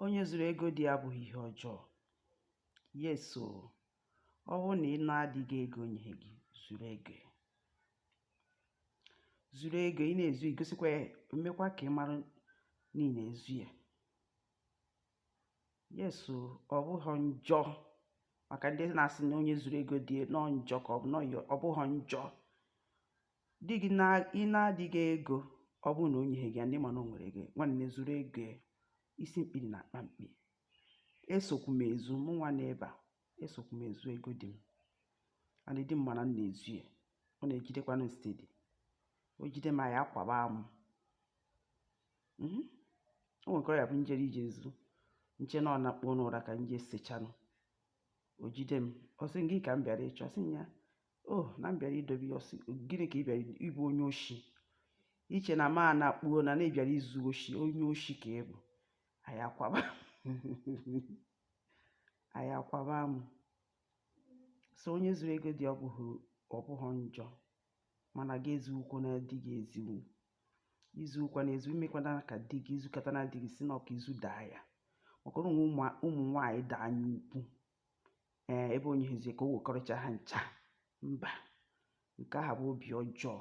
onye zuru ego di abụghị ihe ọjọọ yes o ọ bụrụ na ị naa di gị ego o nyeghị gị zuru ego zuru ego ị na-ezu igosikwa ya emekwa ka ị mara na ị na-ezu ya yes o ọ bụghị njọ maka ndị na-asị na onye zuru ego di na ọ njọ ka ọ bụ ọ bụghị njọ di gị ị naa di gị ego ọ bụrụ na o nyeghị gị ya and ị ma na o nwere ego nwanne zuru ego ya isi mkpi dị na akpa mkpi esokwu m ezu mụ nwa na ebe a esokwu m ezu ego di m and di m ma na m na-ezu ya ọ na-ejidekwanụ m steady o jide m anyị akwaba amụ mhm. o nwekọrọ ya bụ m jere ije ezu m che na ọ na-akpọ n'ụra ka m je sechanụ o jide m ọ sị gịnị ka m bịara ịchọ m sị ya o oh, na m bịara idobe ya ọ sị gịnị ka ị bịara ị bụ onye oshi i che na ma na kpuo na na ị bịara izu oshi onye oshi ka ị bụ anyị akwaba anyị akwaba amụ so onye zuru ego di ọ bụghị njọ mana gị ezugbukwana di gị ezugbu izugbukwana ezugbu imekwana ka di gị i zukata na di gị si na ọka izu daa ya maka na e nwe ụmụ nwaanyị dị anya ukwu ee ebe onye hụzie ka o wekọrịcha ha ncha mba nke ahụ bụ obi ọjọọ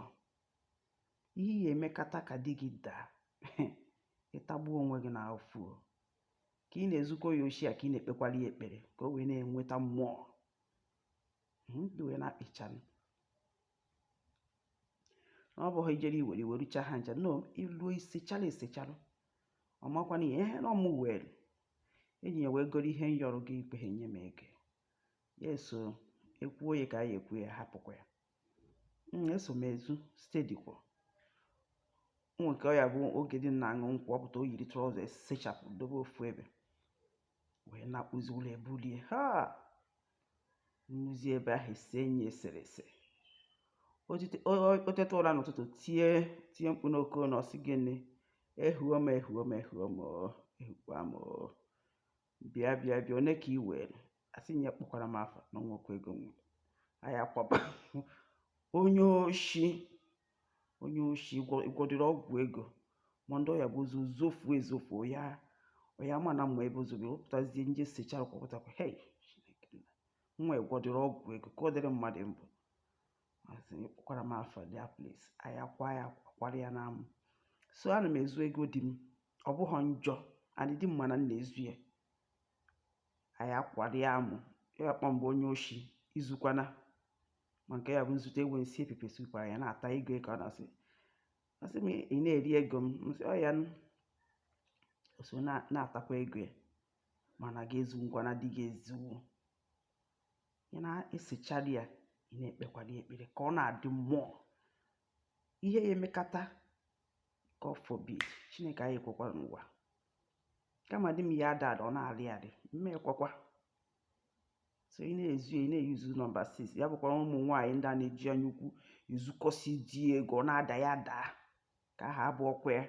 ị ya emekata ka di gị daa ị tagbuo onwe gị na afụfụ ka ị na-ezukọ ya oshi a ka ị na-ekpekwara ya ekpere ka o wee na-enweta more hmm, and ị wee na-akpịchanụ na ọ bụghị i jere iwere iwerucha ha ncha no i luo i sechala esechala ọ makwa na ihe ihe na ọ mụ wee enyi ya wee goro ihe m yọrọ gị i kweghị enye m ego ya eso ekwuo ya ka anyị ekwu ya hapụkwa ya Mm, eso m ezu steady kwa o nwekọ ọ ya bụ oge di m na-aṅụ nkwụ ọ pụta o yiri trouser esechapụ dobe ofu ebe wee na-akpụzi ụla ebulie ha m luzie ebe ahụ ise enyi eserese o teta ụra n'ụtụtụ tie tie mkpu n'oke ụlọ ọ sị gịnị ehuo m ehuo m ehuo m ehukwa m bịa bịa bịa one ka i were asị m ya akpọkwala m afa na o nwekwa ego m were anyị akwaba onye oshi onye oshi ị gwọdịrị ọgwụ ego ma ndị ọ ya bụ o zo zofuo ezofuo ya onye ama na m ma ebe o zobe wepụtazie m je sechara kwapụtakwa hei nwa ị gwọdịrị ọgwụ ego ka ọ dịrị mmadụ mbụ asị m akpọkwala m afa there please anyị akwa ya akwara ya n'amụ so ana m ezu ego di m ọ bụghị njọ and di m ma na m na-ezu ya anyị akwara ya amụ ya kpọ mgbe onye oshi izukwana ma nke ya bụ m zụta ewu m sie pepper soup ahụ ya na-ata ego ka ọ na-asị asị m ị na-eri ego m m sị oya nụ o so na- na-atakwa ego ya mana gị ezu ngwa na di gị ezuwo ya na-esechara ya ị na-ekpekwara ya ekpere ka ọ na-adị more ihe ya emekata God forbid chineke anyị ekwekwara n'ụwa kama di m ya ada ada ọ na-arị arị mma ekwekwa so ị na-ezu ị na-eyuzu nọmba 6 ya bụkwara ụmụ nwaanyị ndị a na-eji anya ukwu ezukọsi di ego ọ na-ada ya daa ka aha abụ ọkwa ya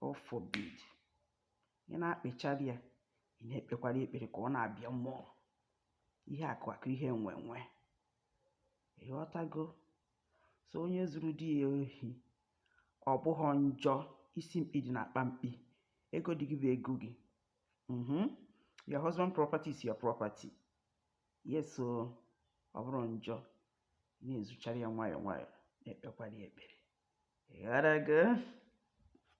God forbid ị na-akpịchara ya ị na-ekpekwara ekpere ka ọ na-abịa more ihe akụ akụ ihe enwe enwe ịghọtago so onye zuru di ya ohi ọ bụghị njọ isi mkpi dị n'akpa mkpi ego di gị bụ ego gị mm -hmm. your husband property is your property yes so ọ bụrọ njọ na-ezuchara ya nwayọọ nwayọọ na-ekpekwara ya ekpere ịghọtago